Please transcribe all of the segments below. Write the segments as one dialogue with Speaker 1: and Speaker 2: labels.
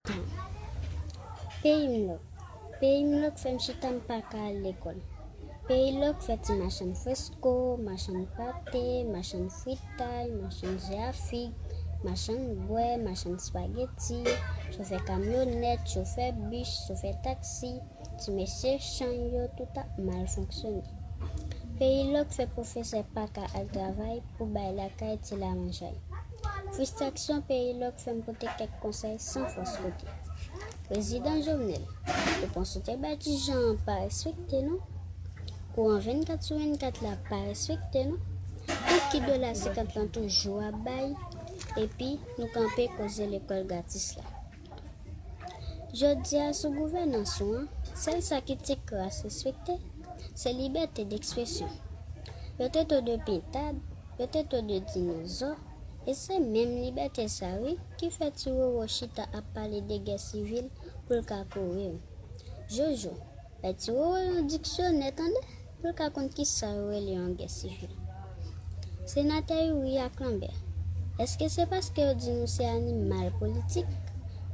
Speaker 1: tan. Peyi m lòk Peyi m lòk fè m chita m pa ka al lekòl Peyi lòk fè ti machann fresko Machann pate Machann fritay Machann je a fig Machann bwè Machann spageti Chofè kamyonèt Chofè bis Chofè taksi Ti mesye chann yo tout ap mal fonksyone Peyi lòk fè pwofesè pa ka al travay pou bay lakay ti lamanjay. Fristraksyon peyi lòk fè m pote kèk konsèy san fòs kote. Prezidan Jovenel, repons ou te bay Ti Jan an pa respekte nou. Kouran 24 sou 24 la pa respekte nou. Tout ki dola 50 lan toujou ap bay epi nou kanpe koze lekòl gratis la. Jodi a sou gouvènans ou an, sèl sa ki te kras respekte, se libète dekspresyon. Yo te to de pentad, yo te to de dinozò, e se menm libète sa wi ki fè ti Roro chita ap pale de gè sivil pou l ka kouri w. Jojo, Bay ti Roro yon diksyonè tande pou l ka konn ki sa yo rele yon gè sivil. Senatè Youri ak Lanbè, èske se paske yo di nou se animal politik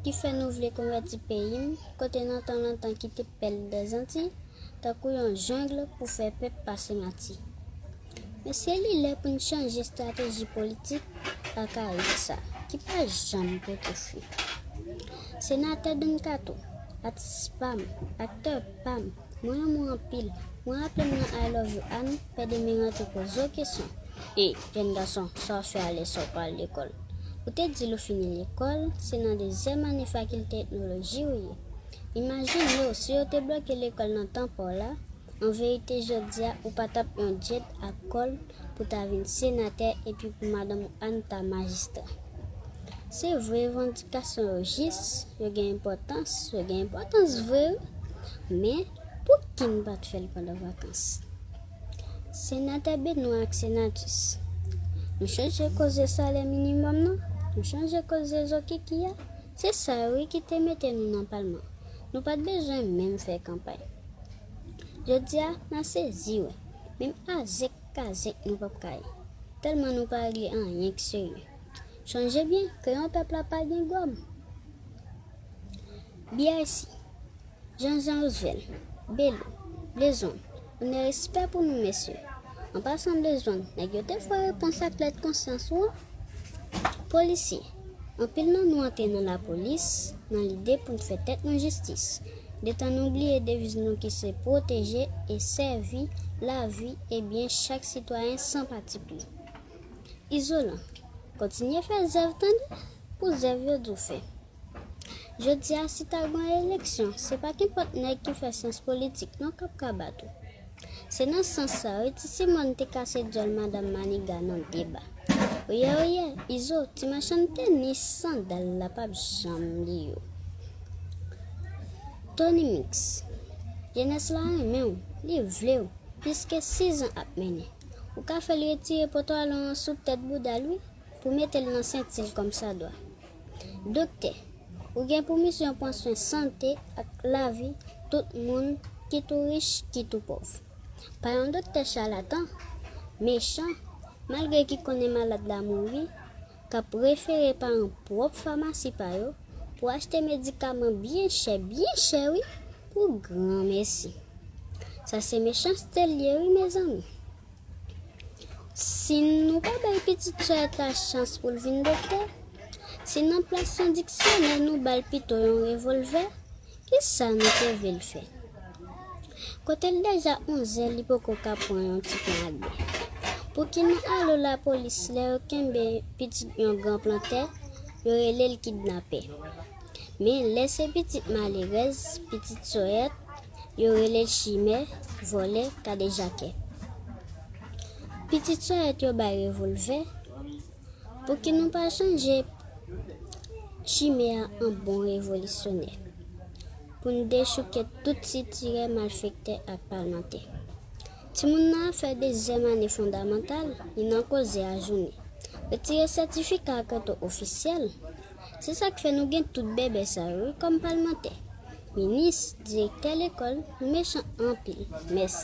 Speaker 1: ki fè nou vle konvèti peyi m kote nan tan lontan ki te pèl dè Zantiy tankou yon jungle pou fè pèp pase mati? Mesye li lè pou n chanje estrateji politik akayik sa ki pa janm pote fwi. Senatè Don Kato, atis pam, aktè pam, mwen renmen w anpil, mwen raple m nan I love you a nou, pè Demi rantre poze w kesyon, e, jèn gason, sa w fè a lè sa w pa al lekòl? Ou te di l ou fini lekòl, se nan dezyèm ane fakilte etnoloji ou ye. Imajine w si yo te bloke lekòl nan tan pa w la, An verite jodia ou pa tap yon djed ak kòl pou ta vin senatè epi pou madanm ou Anne ta majistra. Se vre revandikasyon yo jis, yo gen enpòtans, yo gen enpòtans vre wi, men pouki n pat fè l pandan vakans? Senatè Benoît ak Senatus, nou chanje koze salè minimòm nan, nou chanje koze zokiki a, se sa yo wi ki te mete nou nan palman, nou pat bezwen menm fè kanpay. Jodi a mwen sezi wè. Menm azèk kazèk nou pap ka ye. Tèlman nou pa regle anyen k serye. Chonje byen ke yon pèp la pa gen gòm. BIC, Jan Jan Roosevelt, Bello, Blezong, onè respè pou nou mesye. An pasan Blezong, nèg yo te fwa repons ak lèt konsyans ou an? Polisye. Anpil nan nou antre nan lapolis nan lide pou n fè tèt nou jistis, detan nou bliye deviz nou ki se pwoteje e sèvi lavi e byen chak sitwayen san patipri. Izolan, kontinye fè zèv tande pou zèv yo di w fè. Jodi a si ta gwan eleksyon se pa kenpòt nèg ki fè syans politik non k ap ka bat ou. Se nan sans sa, wi ti Simòn te kase dyòl Madan Maniga nan deba. Oyè oyè, Izo, ti machann tenis sandal la pap janm li yo. Tony Mix, jenès la renmen w, li vle w, plis ke sizan ap mennen. Ou ka fè l retire potalon an sou tèt bouda l wi, pou mete l nan senti l kòmsadwa. Doktè, ou gen pou misyon pran swen sante ak lavi tout moun ki tou rich ki tou pòv. Pa yon doktè chalatan, mechan, malgre ki konnen malad la mouri, k ap refere paran pwòp famasi pa yo pou achte medikaman byen chè, byen chè wi, pou granmesi. Sa se mechanste l ye wi mezanmi. Si nou pa bay pitit sè a ta chans pou l vin doktè, si nan plas yon diksyonè nou ba l pito yon revòlvè, ki sa nou te vle l fè? Kote l deja onzè li poko ka pran yon ti plan agbè. Pouki nou alo lapolis lè yo kenbe pitit yon gran plantè, yo rele l kidnapè. Men lè se pitit malerèz, pitit sòyèt, Yo rele l chimè, vòlè, kadejakè. Pitit sòyèt yo bay revolvè. Pouki nou pa chanje chimè a an bon revolisyonè? Pou n dechouke tout sitirè malfektè ak palmantè. Timoun nan ap fè dezyèm ane fondamantal, li nan koze a jounen. Retire sètifika ak reto ofisyèl. Se sa k fè nou gen tout bèbè sa yo wi kòm palmantè, minis, direktè lekòl, nou mechan anpil. Mèsi.